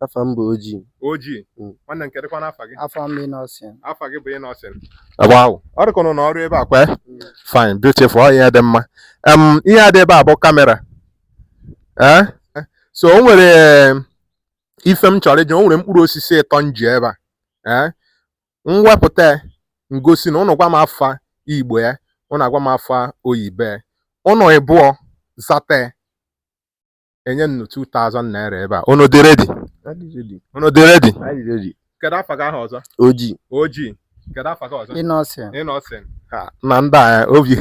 Afa m bụ Oji. Oji. Mm. Nwanne m kedụkwanụ afa gị? Afa m bụ Innocent. Afa gị bụ Innocent. Wow. Ọ dịka ụnụ na ọrụ ebe a kwa? Mm. Fine, beautiful. Ọ ihe dị mma. Um, ihe a dị ebe a bụ kamera. Eh? So o nwere ife m chọrọ iji, o nwere mkpụrụ osisi ịtọ m ji ebe a. Eh? M wepụta ya m gosi nụ ụnụ gwa m afa Igbo ya, ụnụ agwa m afa oyibo ya. Ụnụ ịbụọ zata enye m unu 2000 naira ebe a unu dị ready unu dị ready kedu afa gị ahụ ọzọ oji oji kedu afa gị ọzọ Innocent Innocent nna ndị a eh, obi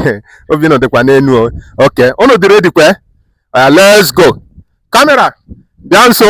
obi unu ọ dịkwa n'enu okay unu dị ready kwe eh, let's go kamera bịa nso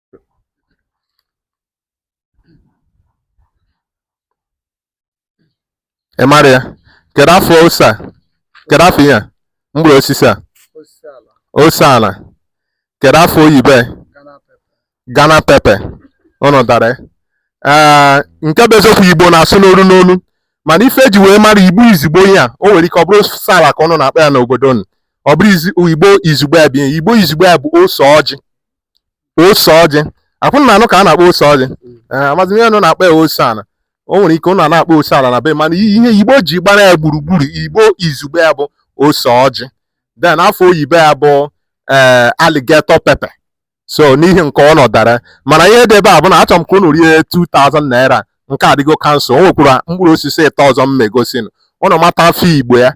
ị mara ya kedu afa ose a kedu afa ihe a mkpụrụ osisi a ose ala ose ala kedu afa oyibo ya Ghana pepper Ghana pepper ụnụ dara ya. ee nke bụ eziokwu igbo na-asụ n'olu n'olu mana ife eji wee mara igbo izugbe ya o nwere ike ọ bụrụ ose ala ka ụnụ na-akpọ ya n'obodo ụnụ ọ bụrụ izi- igbo izugbe ya bụ ihe igbo izugbe ya bụ ose ọjị ose ọjị ọ kwa ụnụ na-anụ ka a na-akpọ ose ọjị ee amazi m ihe ụnụ na-akpọ ya ose ala o nwere ike ụnụ ana-akpọ ose ala na be mana ihe igbo ji gbara ya gburugburu igbo izugbe ya bụ ose ọjị then afa oyibo ya bụ ee alligator pepper so n'ihi nke ụnụ dara mana ihe dị ebe a bụ na achọrọ m ka ụnụ rie 2000 naira nke a adịgo cancel o nwekwara mkpụrụ osisi ịtọ ọzọ m megosinụ ụnụ mata afa igbo ya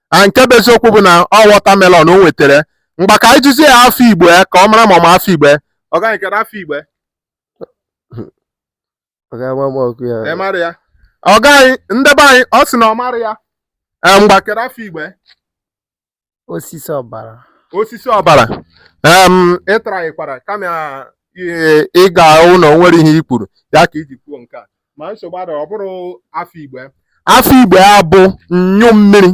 a nke bụ eziokwu bụ na ọ watermelon o nwetara ngwa ka anyị jụzie ya afa igbo ya ka ọ mara ma ọ ma afa igbo ya ọga anyị kedu afa igbo ya Ọ ga-ama m ọkụ ya. ị mara ya ọga anyị ndị be anyị ọ sị na ọ mara ya Ee, ngwa kedu afa igbo ya Osisi ọbara. osisi ọbara em ị trykwara kama ị- ị ga-ahụ na o nwere ihe i kwuru ya ka iji kwuo nke a ma nsogbu adịghị ọ bụrọ afa igbo ya afa igbo ya bụ anyụ mmiri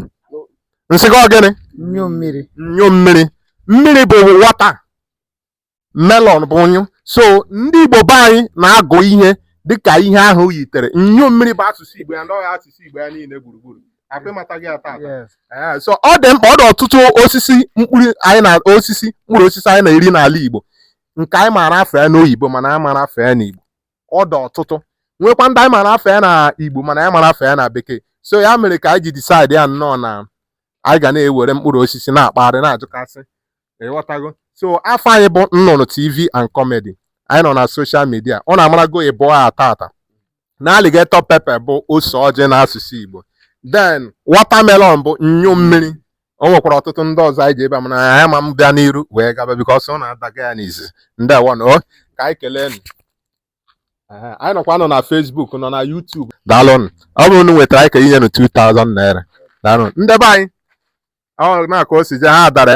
m sị gị ọ gịnị anyụ mmiri anyụ mmiri mmiri bụ water melon bụ anyụ so ndị igbo be anyị na-agụ ihe dịka ihe ahụ yitere anyụ mmiri bụ asụsụ igbo ya na ọ ya asụsụ igbo ya niile gburugburu ọ kwa ị matago ya taata eh, so ọ dị mkpa ọ dị ọtụtụ osisi mkpụrụ anyị na osisi mkpụrụ osisi anyị na-eri n'ala igbo nke anyị maara afa ya n'oyibo mana a marọ afa ya n'igbo ọ dị ọtụtụ nwekwa ndị anyị mara afa ya na igbo mana anyị amarọ afa ya na bekee so ya mere ka anyị ji decide ya nnọọ na anyị ga na-ewere mkpụrụ osisi na-akpagharị na-ajụkasị ị ghọtago so afa anyị bụ nnụnụ tv and comedy anyị nọ na social media ụnụ amarago ịbụọ a taata na alligator pepper bụ ose ọjị na asụsụ igbo then watermelon bụ anyụ mmiri o nwekwara ọtụtụ ndị ọzọ anyị ji ebe a mana anyị ma m bịa n'iru wee gaba because ọ na-adaga ya n'izi ndeewonụ o ka anyị kelee nụ anyị nọkwa nọ na Facebook nọ na YouTube daalụnụ ọ bụrụ na unu nwetara anyị ka inye nụ 2000 naira daalụnụ ndị be anyị ọ na-aka o si je ha adara